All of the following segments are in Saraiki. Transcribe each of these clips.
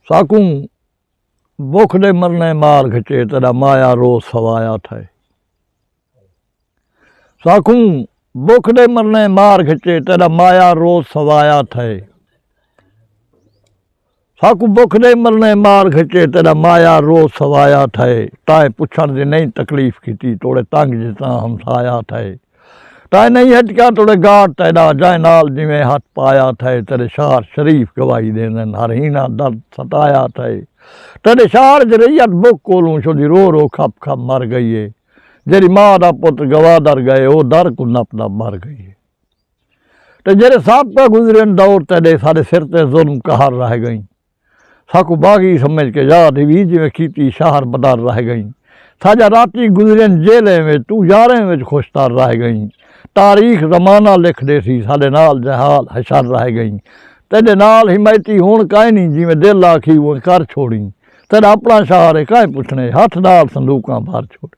ساکوں بکھ دے مرنے مار گھچے تیڈا مایا روز سوایا تھئے ساکوں بکھ دے مرنے مار گھچے تیڈا مایا روز سوایا تھئے ساکوں بکھ دے مرنے مار گھچے تیڈا مایا روز سوایا تھئے تائیں پچھن دی نہیں تکلیف کیتی توڑے تنگ جتاں ہمسایا تھئے تائے نئیں ہٹکا توڑے گاٹ تیڈا جائے نال جیویں ہتھ پایا تھئے تیڈے شعر شریف گواہی دیندن ہر ہینا درد ستایا تھئے تیڈے شعر اچ رعیت بک کولوں شدی رو رو کھپ کھپ مر گئی اے جیڑی ماء دا پتر گوادر گئے او در کوں نپ نپ مر گئی اے تے جیڑے سابقہ گزرین دور تیڈے ساڈے سر تے ظلم قہر رہ گئیں۔ ساکوں باغی سمجھ کے یاد ہوی جیویں کیتی شاہر بدر رہ گئیں ساجا راتی گزرین جیلیں وچ توں یاریں وچ خوش تر رہ گئیں تاریخ زمانہ لکھ ڈیسی ساڈے نال جہال حشر رہ گئیں تیڈے نال حمایتی ہن کائنی جیویں دل آکھی اونج کر چھوڑیں تیڈا اپنا شاہر اے کائیں پچھنے ہتھ نال صندوقاں بھر چھوڑیں۔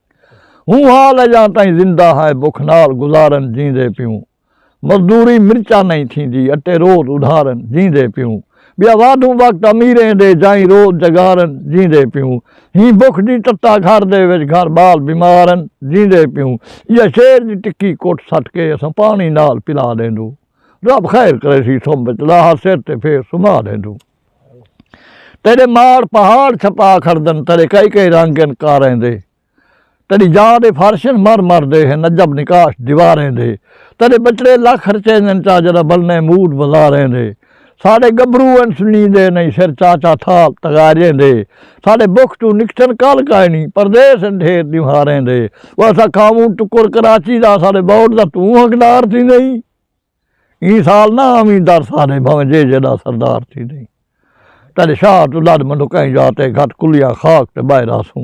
ہوں حال اجاں تائیں زندہ ہائے بکھ نال گزارن جیندے پیوں مزدوری مرچاں نئیں تھیندی اٹے روز ادھارن جیندے پیوں بیا وادھوں وقت امیریں دے جائیں روز جگارن جیندے پیوں ہی بکھ دی تتا گھر دے وچ گھر بال بیمارن جیندے پیوں ایہ شیر دی ٹکی کٹ سٹ کے اساں پانی نال پلا ڈیندوں رب خیر کریسی سم وچ لاہا سر تے پھیر سما ڈیندوں۔ تیڈے ماڑ پہاڑ چھپا کھڑدن تیڈے کئی کئی رنگ ہن کاریں دے تیڈی جا دے فرشن مر مر دے ہن عجب نقاش دیواریں دے تیڈے بچڑے لکھ رچیندن چا جڈاں بلنے موڈ بزاریں دے ساڈے گبرو ہن سنیندے نئیں سر چاچا تھال تغارییں دے ساڈے بکھ توں نکٹھن کل کائنی پردیس ہن ڈھیر دیوہاریں دے وہ اساں کھاووں ٹکر کراچی دا ساڈے بورڈ دا توں حقدار تھیندیں۔ ایں سال نہ آویں در سارے بھانویں جے جیݙا سردار تھی دئیں تیݙے شاہ توں لݙ منڈکائیں جا تے گھٹ کلیاں خاک تے ٻہہ رہسوں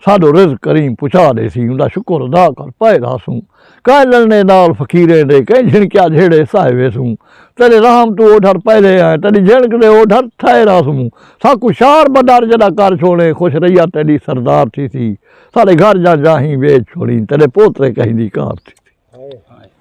ساݙو رزق کریم پچا ݙیسی اوندا شکر ادا کر پئے رہسوں کائے لݨے نال فقیریں دے کئیں جھنکیا جھیڑے سہے ویسوں تیݙے رحم توں اوڈھر پہلے آئیں تیݙی جھنک دے اوڈھر تھئے رہسوں ساکوں شار بدر جیݙا کر چھوڑیں خوش رہیا تیݙی سردار تھیسی ساݙے گھر جاں جاہیں ویچ چھوڑیں تیݙے پوترے کہیں دی کار تھیسی۔